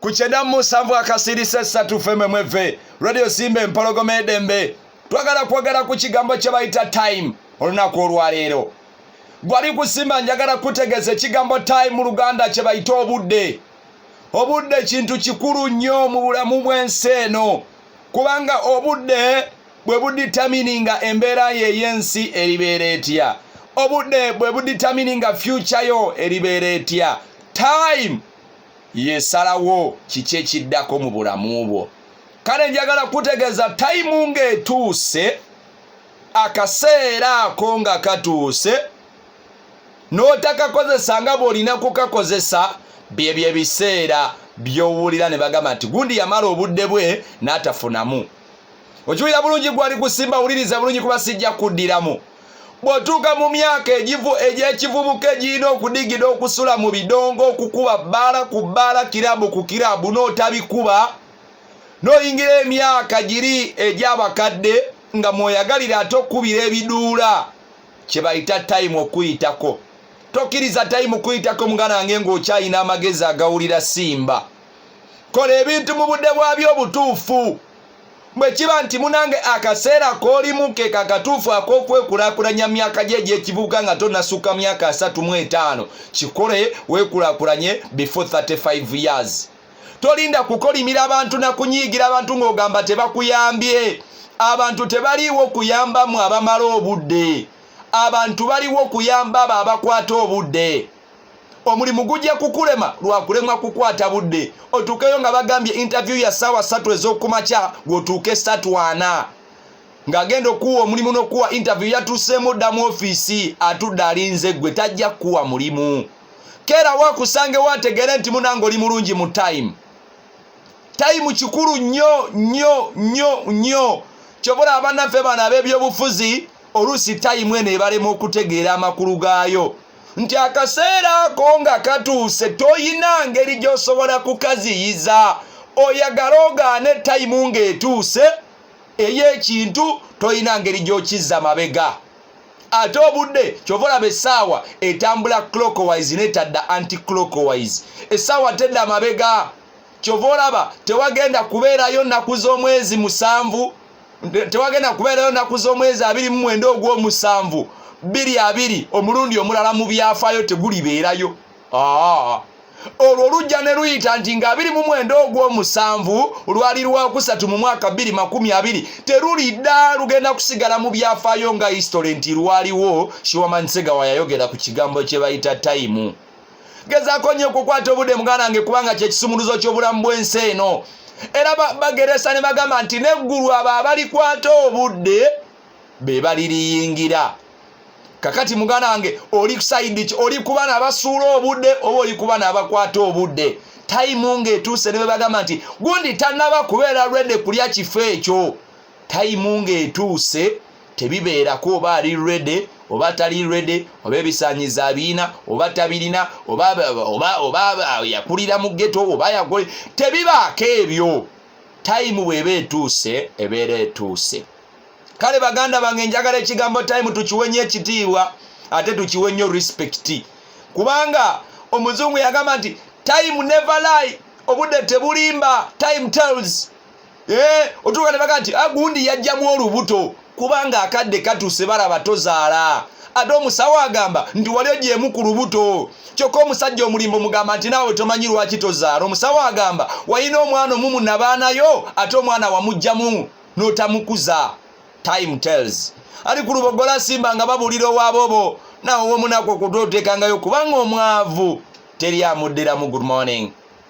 ku kyenda mu musanvu akasiirisa essatu fememweve radio simba empologoma edembe twagala kwogera ku kigambo kye bayita time olunaku olwaleero gwali kusimba njagala kutegeeza ekigambo time mu luganda kye bayita obudde obudde kintu kikulu nnyo mu bulamu bw'ensi eno kubanga obudde bwe buditamininga embeera yo ey'ensi eribeera etya obudde bwe buditamininga fyuca yo eribeera etya time yesalawo kiki ekiddako mu bulamu bwo kale njagala kutegeeza tayimu ng'etuuse akaseera ako nga katuuse n'otakakozesa nga bw'olina kukakozesa byebyo ebiseera by'owulira ne bagamba nti gundi yamala obudde bwe n'atafunamu okiwulira bulungi gwali kusimba wuliriza bulungi kuba sijja kuddiramu bw'otuuka mu myaka egy'ekivubuka egirina okudigida okusula mu bidongo okukuba bbaala ku bbaala kirabu ku kirabu n'otabikuba n'oyingira emyaka giri egy'abakadde nga mwoyagalira ate okukubira ebiduula kye bayita tayimu okuyitako tokkiriza tayimu kuyitako muganange ng'okyalina amagezi agawulira simba kola ebintu mu budde bwabyo obutuufu bwe kiba nti munange akaseera k'olimu ke kakatuufu ak'okwekulakulanya myaka gye egy'ekivubuka nga tonasukka myaka asatu mu etaano kikole weekulakulanye before 35 years tolinda kukolimira abantu na kunyiigira abantu ng'ogamba tebakuyambye abantu tebaliiwo kuyambamu abamala obudde abantu baliwo kuyamba abo abakwata obudde omulimu gujja kukulema lwakulemwa kukwata budde otuukeyo nga bagambye interview ya saawa satu ez'okumakya gwotuuke satu ana ng'agenda okuwa omulimu n'okuwa interview yatuuseemu dda mu ofiisi atudde alinze gwe tajja kukuwa mulimu keera wakusangewo ategere nti munanga oli mulungi mu time time kikulu nnyo nnyo nnyo nnyo kyobola abanaffe bano ab'ebyobufuzi oluusi tayimu eno ebalema okutegeera amakulu gaayo nti akaseera ako nga katuuse toyina ngeri gy'osobola kukaziyiza oyagala ogaane tayimu ng'etuuse ey'ekintu toyina ngeri gy'okizza mabega ate obudde kyova olaba essaawa etambula clockwise netadda anti clockwise essaawa tedda mabega kyova olaba tewagenda kubeerayo nnaku z'omwezi musanvu tewagenda kubeerayo nnaku z'omwezi abiri mu mwenda ogw'omusanvu bbiri abiri omulundi omulala mu byafaayo tegulibeerayo aa olwo lujja ne luyita nti nga abiri mu mwenda ogw'omusanvu lwali lwakusatu mu mwaka bbiri makumi abiri terulidda lugenda kusigala mu byafaayo nga history nti lwaliwo shiwamansega wayayogera ku kigambo kye bayita tayimu gezaako nnyo okukwata obudde muganda nge kubanga kyekisumuluzo ky'obulamu bw'ensi eno era bageresa ne bagamba nti neggulu abo abalikwata obudde be baliriyingira kakati muganda wange oli kusaidi ki oli kuba nabasuula obudde oba oli kuba nabakwata obudde tayimu ngaetuuse ne bebagamba nti gundi tanaba kubeera lwedde kulya kifo ekyo tayimu ngaetuuse tebibeerako oba ali rede oba tali rede oba ebisanyiza abiina oba tabirina oba yakulira mu geto oba yakole tebibaako ebyo tayimu bweba etuuse ebeera etuuse kale baganda bange njagala ekigambo tayimu tukiwe nyo ekitiibwa ate tukiwe nyo respekiti kubanga omuzungu yagamba nti time never lie obudde tebulimba time tells Eh, otuuka ne baga nti agundi ah, yajjamu olubuto kubanga akadde katuuse balaba tozaala ate omusawo agamba nti wali ogyemu ku lubuto kyokka omusajja omulimbo mugamba nti naawe tomanyi lwaki tozaala omusawo agamba walina omwana omumu nabaanayo ate omwana wamugjamu n'otamukuza time tells ali ku lubogola simba nga babuulira owaabobo naawe womunaku okutotekangayo kubanga omwavu teri amuddiramu good morning